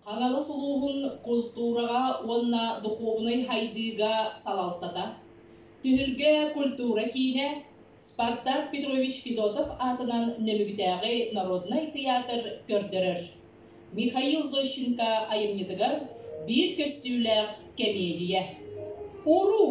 Хаҥалас улууһун култуураҕа уонна духуобунай хайдыыга салалтата, Түһүлгэ культура киинэ, Спартак Петрович Федотов аатынан Нөмүгүтээҕи народнай тыйаатыр көрдөрөр. Михаил Зощенко айымньытыгар биир көстүүлээх кэмиэдьийэ. Уруу!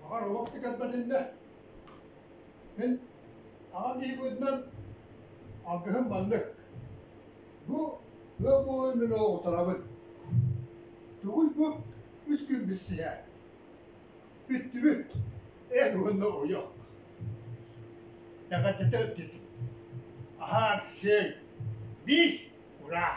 Баҕар олох да көрбөтүннэ. Мин аҕам киһи быһыытынан алгыһым маннык. Бу ыал буолан мин оҕолоторобун. Тугуй бу үс күн билсиһэ. Бүттүбүт. Эх уонна ойох. Тэҕэтэтэ өттүтүк. Аһаар сиэй. Биис ураа.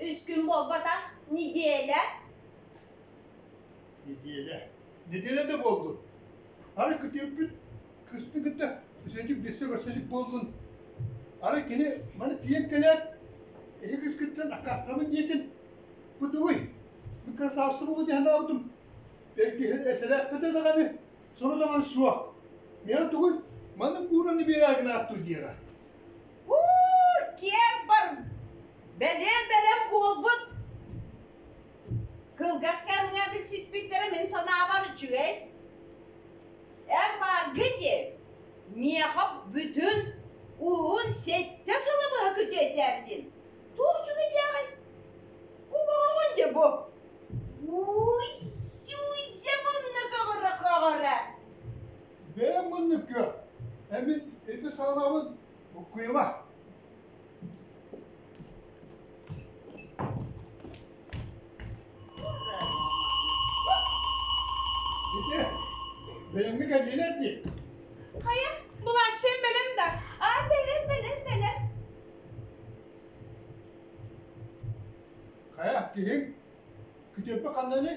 үс күн буолбатах неделя неделя неделя да буоллун ары күтүөппүт кыспын кытта үсэдик бессе көрсөдик буоллун ары кини маны тиийэн кэлээт эһи кыскыттан аккаастабын диэтин бутугуй бу красавцыбылы дэһэн аабытым бэргиһин эсэлээппэтэ даҕаны соро даҕан суох миэхэ тугуй маннык буураны биэрээ гынааттыл диэҕэ киэр бар бэлиэн бэлэм буолбут кылгас кэмҥэ билсиспиттэрэ мин санаабар үчүгэй эмбарго диэн миэхэ бүтүн уһун сэттэ сылы быһа күтүөтээн диэн туу үчүгэй дээҕий угуругун дэ бу уй сюйземамна каҕыра каҕыра бэйэҥ муннукка эмин ити саҕанабын уккуйума ити бэлэмҥэ кэллилэр дии хайа былааччыйым бэлэм да аа бэлэм бэлэм бэлэм хайа киһиҥ күтүөппү ханныный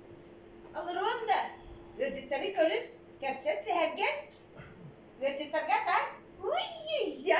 Олоруон да, ыалдьыттары көрүс, кэпсэт сэһэргэс. Ыалдьыттарга акаар уй-я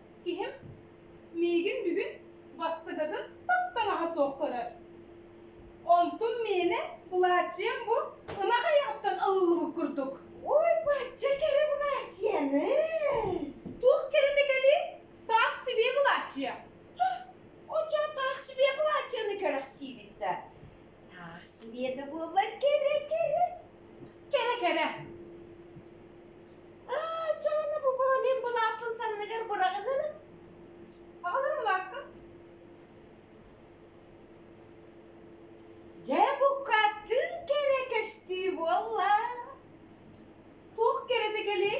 киһим миигин бүгүн бастыгытын тас таҥаһа суох көрөр. Онтум миэнэ былааччыйам бу ынах айаҕыттан ылыллыбыт курдук. Ой, бачча кэрэ былааччыйаны! Туох кэриҥэ кэлиэй? Таах сибиэ былааччыйа. Оччо таах сибиэ былааччыйаны кэрэхсиибит да, Таар сибиэтэ буоллар кэрэ кэрэ кэрэ кэрэ. Аа, Дьаана бу бройлен былааппын санныгар быраҕынын. Аҕалар былаакка. Дьэ буккаттын кэрэ көстүү буолла. Туох кэрэтэ кэлиэй?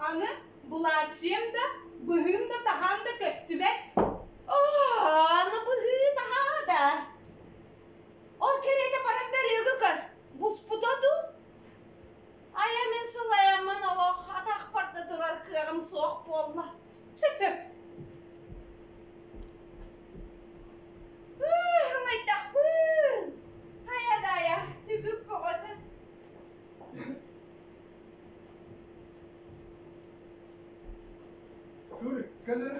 Аны булааччыйым да, быһыым да таһаан да көстүбэт. Оо, аны быһыы таһаа да. Ол кэриэтэ баран да ырыага көр. Буспута дуу? Айа мин сылайаммын олох атахпар да турар кыаҕым суох буолла. Чэ сөп. Ынайдахпын. Хайа даайа, түбүк бөҕөтө. Фу, кэлэрэ.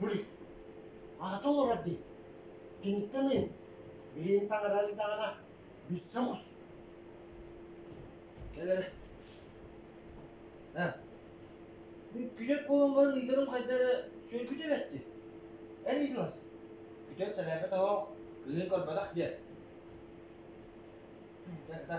Бuli, аата олорор дии. Киниттэн ыйын. Билигин саҥарар даҕана биссе оҕус. Кэл эрэ. Һэ. Бир күтөк буолан баран ыйдарым хайда эрэ сүөргүтэ бэтти. Эр ыйдылас. Күтөк сэлээпэ тоһох, кыһын көрбөтөх диэн. Дьэ,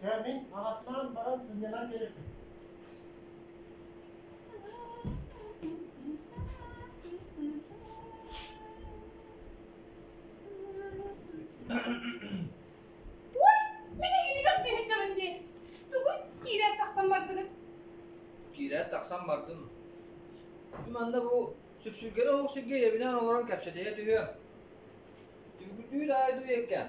Дьэ, мин аҕатынаан баран сынньанан кэлэбин киирээт тахсан бардым манна бу сүпсүлгэри омук сиргэ ийэбинээн олорон кэпсэтиһэ түһүөм түбүгүрдүүр аайы дуйеккээн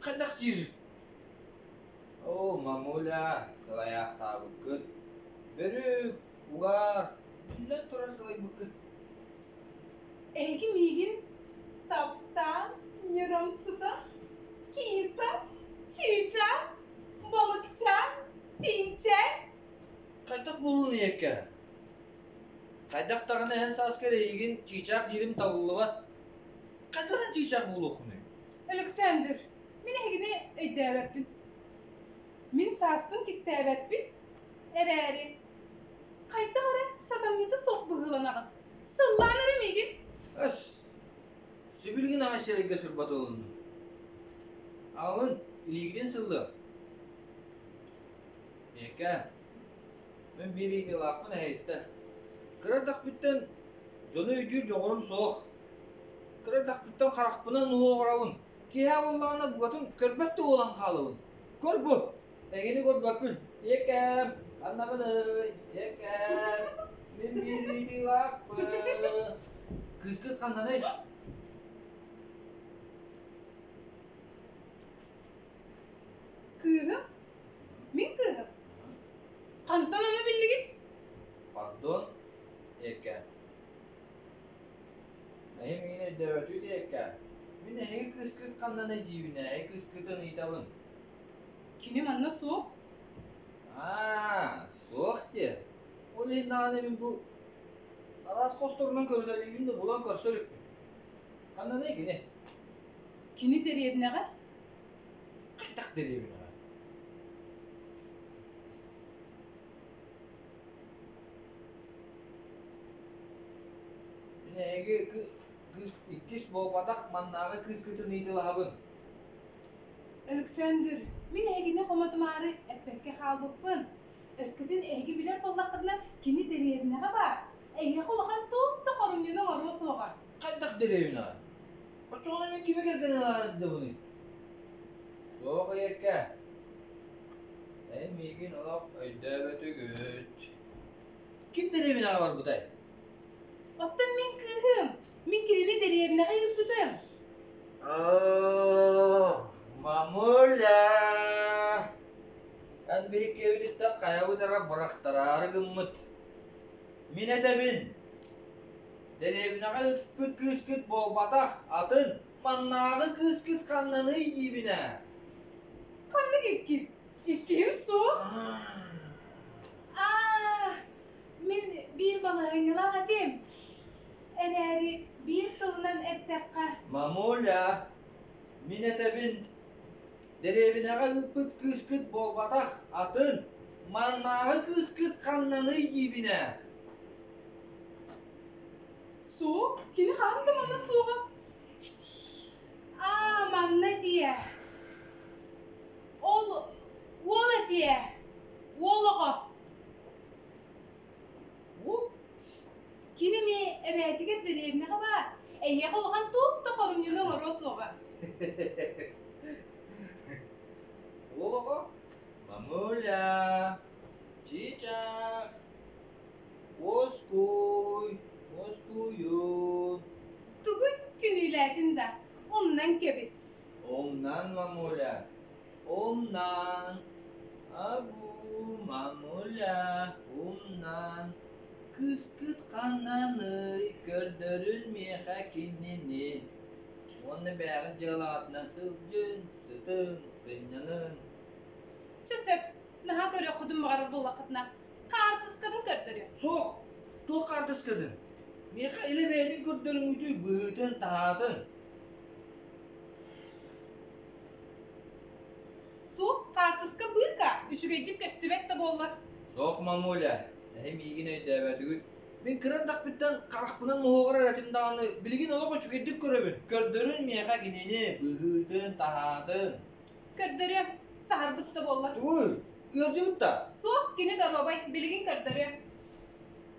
Хайдах диир? Оо, мамуля, сылайаахтаабыккыт. Бөрүк, угаар, биллэн турар сылайбыккыт. Эһиги миигин таптаан ньырамсыта, киса, чыыча, балыкчаан, тиҥчээн. Хайдах буоллунуй эккэ? Хайдах даҕаны эн сааскар эйигин чыычаах диирим табыллыбат. Хайдах эн чыычаах буолуоххунуй? Александр, мин эһигини өйдөөбөппүн. Мин сааспын кистээбэппин эрээри, хайдах эрэ сатамньыта суох быһыыланаҕын. Сыллаан эрэ миигин. Өс! Сибилигин аҕа сирэйгэ сырбат ылынным. Аҕалын, илиигитин сыллыах. Миэкэ, Мин биир ыйытыылаахпын эһэйиттэ. Кыра эрдэхпиттэн дьону өйдүүр дьоҕурум суох. Кыра эрдэхпиттэн харахпынан уу оҕоробун. Киэһэ буоллаҕына букатын көрбөт да буолан хаалабын. Көр бу! Эҥини көрбөккүн. Ийэкээм, аннаҕыный, ийэкээм, мин биир ыйытыылаахпын. Кыыскыт ханнаный? Кыыһым? Мин кыыһым? Хантан аны биллигит? Пардон, эһиэхэ. Эһим миигин өйдөөбөтүй диэккэ, мин эһиги кыскыт ханнан эдьиийбинээһи кыскытын ыйытабын. Кини манна суох? Аа, суох диэ. Ол иһин даҕаны мин бу араас хосторунан көрүтэлиибин да булан көрсө иликпин. Ханнаный кини? Кини дэриэбинэҕэ? Хайдах дэриэбинэҕэ Дьиҥэ эһиги кы- кыыс иккис буолбатах маннааҕы кыыскытын ыйыталаһабын Өлөксөөндүр, мин эһигини хомотумаары эппэккэ хаалбыппын. Өскөтүн эһиги билэр буоллаххытына, кини дэриэбинэҕэ баар. Эһиэхэ улахан туох да хорумньуну оҥоруо суоҕа Хайдах дэриэбинаҕа? Оччоҕуна мин кими кэргэнин ылаары сытабыный? Суох эйиэкэ. Эн миигин олох өйдөөбөтүгүт. Ким дэриэбинаҕа барбытай? Оттон мин кыыһым. Мин кинини дэриэбинэҕэ ыыппытым. Оо, мамуля! Эн били киэбититтэн хайабыт эрэ бырахтараары гыммыт. Мин этэбин, дэриэбинэҕэ ыспыт кыыскыт буолбатах, атын маннааҕы кыыскыт ханнаный диибинэ. Ханнык иккис? Иккиһим суох. Аа, мин биир балаһыанньалаах этим. Эрээри биир тылынан эттэххэ. Мамуля, мин этэбин, дэриэбинэҕэ ыыппыт кыыскыт буолбатах атын маннааҕы кыыскыт ханнаный диибинэ суох кини хаһан да манна суоҕа аа манна дии ол уол этиэ уол оҕо Бу ким эмэ эбээтигэр дэриэбинэҕэ баар. Эһиэхэ улахан туох да хорумньуну олоруо суоҕа. Оҕо мамуля, чыычаах, уоскуй, уоскуйун. Тугун күнүүлээтин да, умнан кэбис. Умнан, мамуля. умна агу мамуля умна кыскыт ханнааный көрдөрүн миэхэ кинини уонна бэйэҕит дьыалаҕытынан сылдьын сытын сынньанын чэ сөп наһаа көрүөххүтүн баҕарар буоллаххытына хаартыскатын көрдөрүө суох туох хаартыскатын миэхэ илэ бэйэтин көрдөрүҥҥүтүй быһыытын таһаатын суох хаартыска быырка үчүгэйдик көстүбэт да буоллар суох мамуля эһи миигин өйдөөбөтүгүт мин кыра эрдэхпиттэн харахпынан моһуогар эрэ этим даҕаны билигин олох үчүгэйдик көрөбүн көрдөрүн миэхэ кинини быһыытын таһаатын көрдөрүөм саһарбыт да буоллар түгүр ыалдьыбыт да суох кини доруобай билигин көрдөрүөм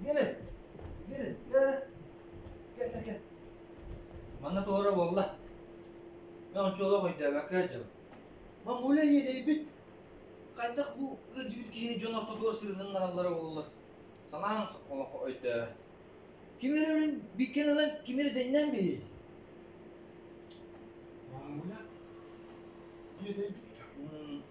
Иди, иди, кэ, Манна туора буолла. Мен оччолох өйдөөбөккө дьыл. Мамуля иэдэйбит. Хайдах бу ыдьыыр киһини дьон ортотугар сырытыннараллара буоллар. Санаан олох өйдөөбөт. Кимер өрүн биккен ылан кимер дэннен бии. Мамуля иэдэйбит.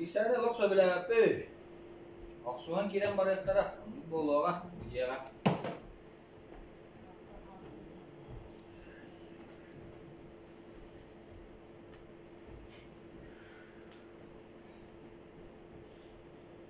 Иисаны олох сөбүлээбэппий? Охсуһан киирэн барыахтара, оннук буолуоҕа, бу дьиэҕэ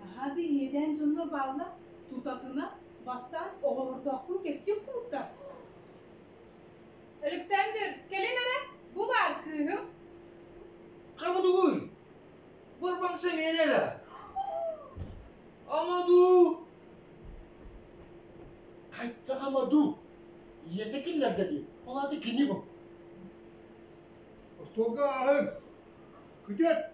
наһаа да иэдээн дьоно бааллар тутатына бастаан оҕолордоохпун кэпсиир курдуктар Александр кэлин эрэ бу баар кыыһым Амадуй Барбаңса миэнэлэ Амаду Қайтта Амаду ийэтэ киллэрдэ дии ол аата кини бу Остуолга ааҕыҥ күтүөт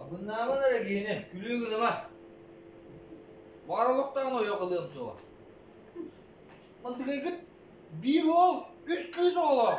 Абыннааман эрэ киһини, күлүү гыныма. Баҕар олохтооҕун ойох ылыам суоҕа. Мантыгайгыт биир уол, үс кыыс оҕолоох.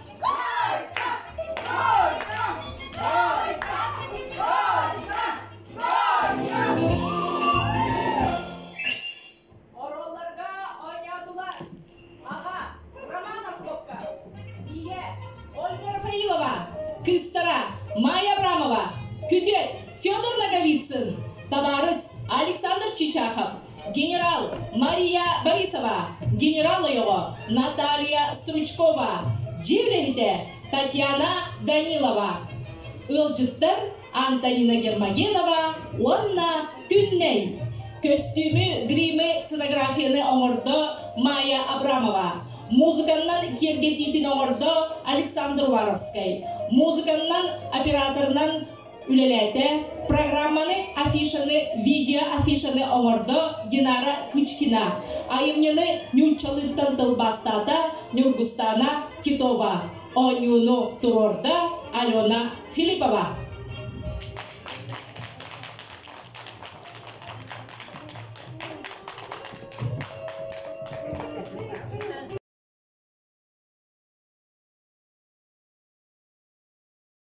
Майя Абрамова, Күтүөт Федор Ноговицын, Табаарыс Александр Чичахов генерал мария борисова генерал ойоҕо наталья стручкова дьиэ үлэһитэ татьяна данилова ыалдьыттар антонина гермогенова уонна күннэй көстүүмү гримы сценографияны оҥордо майя абрамова музыканнан киэргэтиитин оҥордо александр уваровскай музыканнан операторынан үлэлээтэ. Программаны, афишаны, видеоафишаны оҥордо Динара Кычкина. Айымньыны ньууччалыыттан тылбаастаата Ньургустаана Титова. Оонньууну туруорда Алена Филиппова.